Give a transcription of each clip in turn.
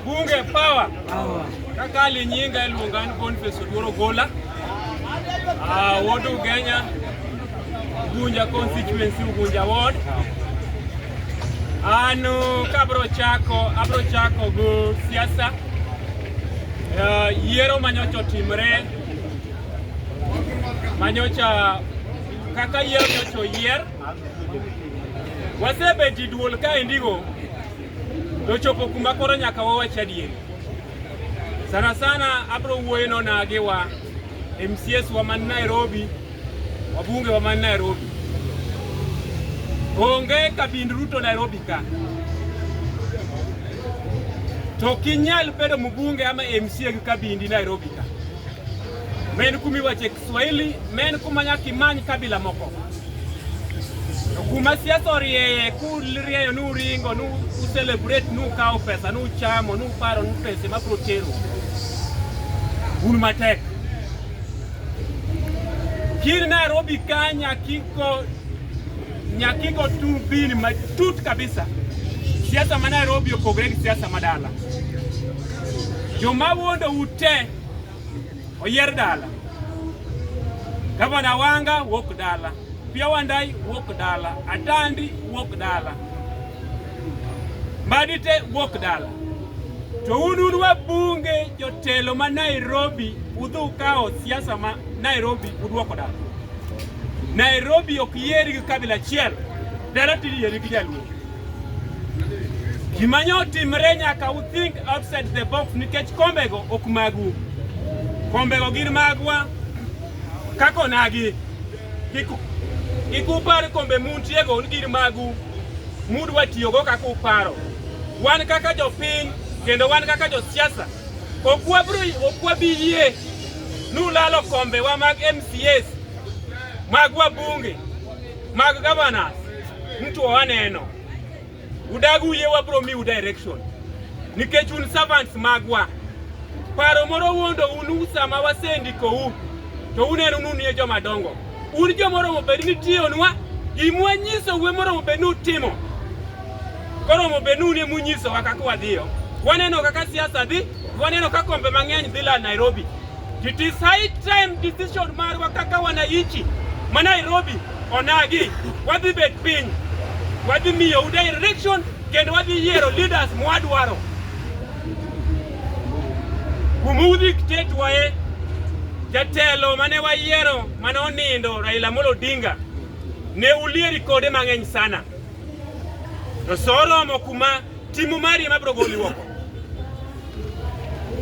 Bunge power. Kaka linyinga iluonga ni Boniface Oduoro Gola. Ah, Ward Ugenya, Ugunja constituency, Ugunja ward. Anu kabro chako, abro chako go siasa. Uh, yiero manyocha otimre manyocha kaka yiero nyocha oyier wasebeti duol ka indigo Nochopo kuma koro nyaka wawach adieri. Sana sana abro wuoyo nona gi wa MCS wa man Nairobi, wabunge wa man Nairobi. Onge kabind Ruto Nairobi ka. To kinyal bedo mbunge ama MCA gi kabindi Nairobi ka. Men kumi wache Swahili men kumanya kimany kabila moko kuma siasa orieye kurieyo nu ringo nu ucelebrate nu kawo pesa nu chamo nu paro nu pese ma bro tero un matek kir Nairobi ka nyakiko nyakiko turbini matut kabisa siasa ma Nairobi opogore gi siasa ma dala joma wuondo ute Oyer dala. Gavana Wanga wuok dala. Pia Wandai wuok dala. Atandi wuok dala. Madite wuok dala. To un un wabunge jotelo ma Nairobi udhu kawo siasa ma Nairobi udwoko dala. Nairobi ok yier gi kabila achiel. Dala tiri yier gi jaluo. Gima nyo timre nyaka u think outside the box nikech kombego ok magu. Kombego gin magwa kaka onagi. Kik kik upar kombe muntiego ni gin magu mudwa tiyogo kaka uparo. Wan kaka jopiny kendo wan kaka josiasa ok wabro ok wabi yie nulalo kombewa mag MCAs magwa bunge Mag governors mtu waneno udag uye wabro miu direction nikech un servants magwa. Paro moro wuondo unu sama wasendikou to uneno ni unie joma dongo. Un jomoromo bed ni tiyonwa gimwa nyiso uwe moromo bed ni utimo koromo bed ni unie munyisowa kaka wadhiyo. Waneno kaka siasa dhi, waneno kaka kombe mang'eny dhi la Nairobi. to decide time decision marwa kaka wananchi ma Nairobi onagi wadhi bet piny wadhi miyo u direction kendo wadhi yiero leaders mwadwaro kumudhi tetwaye jatelo mane wayiero mane onindo Raila Amolo Odinga ne ulieri kode mang'eny sana to soromo kuma timu mari mabiro goli oko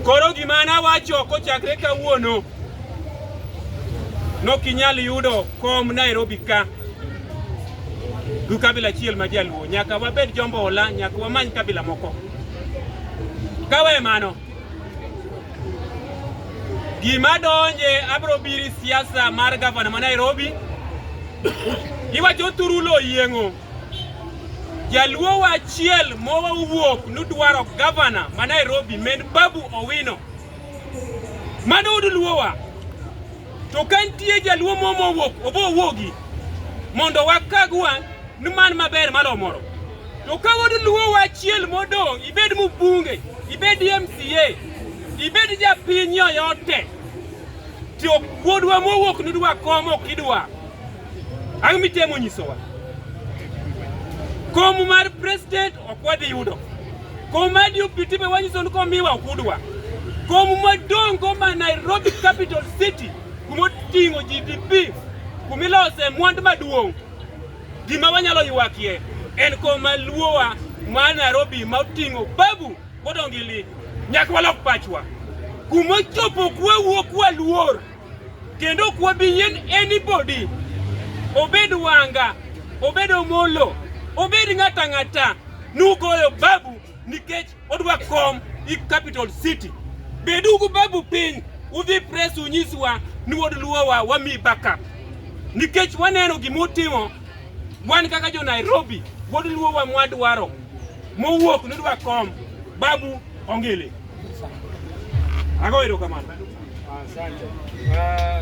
Koro gima nawacho kochakre kawuono nokinyal yudo kom Nairobi ka gi kabila achiel ma jaluo. Nyaka wabed jombola, nyaka wamany kabila moko. Kawe mano, gima donje abro biri siasa mar gavana ma Nairobi iwacho thuru lo yieng'o Jaluo wa achiel mowuok nudwaro gavana ma Nairobi men Babu Owino. Mano uduluowa. To ka nitie jaluo mo mowuok obo owuogi mondo wakagwa ni man maber malo moro. To ka uduluo wa achiel modong' ibed mbunge, ibed MCA, ibed japiny yoyote. To wuodwa mowuok nudwa komo kidwa. Ang' mitemo nyisowa? Kom mar president ok wadhi yudo. Kom mar deputy be wanyiso ni komiwa ok udwa. Kom madong' go ma Nairobi capital city kuma oting'o GDP kuma ilose mwandu maduong' gima wanyalo ywakie en kom ma luowa ma Nairobi ma oting'o babu kodongili nyaka walok pachwa kuma chopo kwawuok waluor kendo ok wabiyien anybody obed wanga obed omolo obed ng'ata ng'ata nugoyo babu nikech odwa kom i capital city bedugu babu piny udhi press unyiswa ni wod luowa wami backup nikech waneno gimutimo wan kaka jo nairobi wod luowa mwadwaro mowuok nidwa kom babu Ongele. Agoero kamano. Asante. Ah,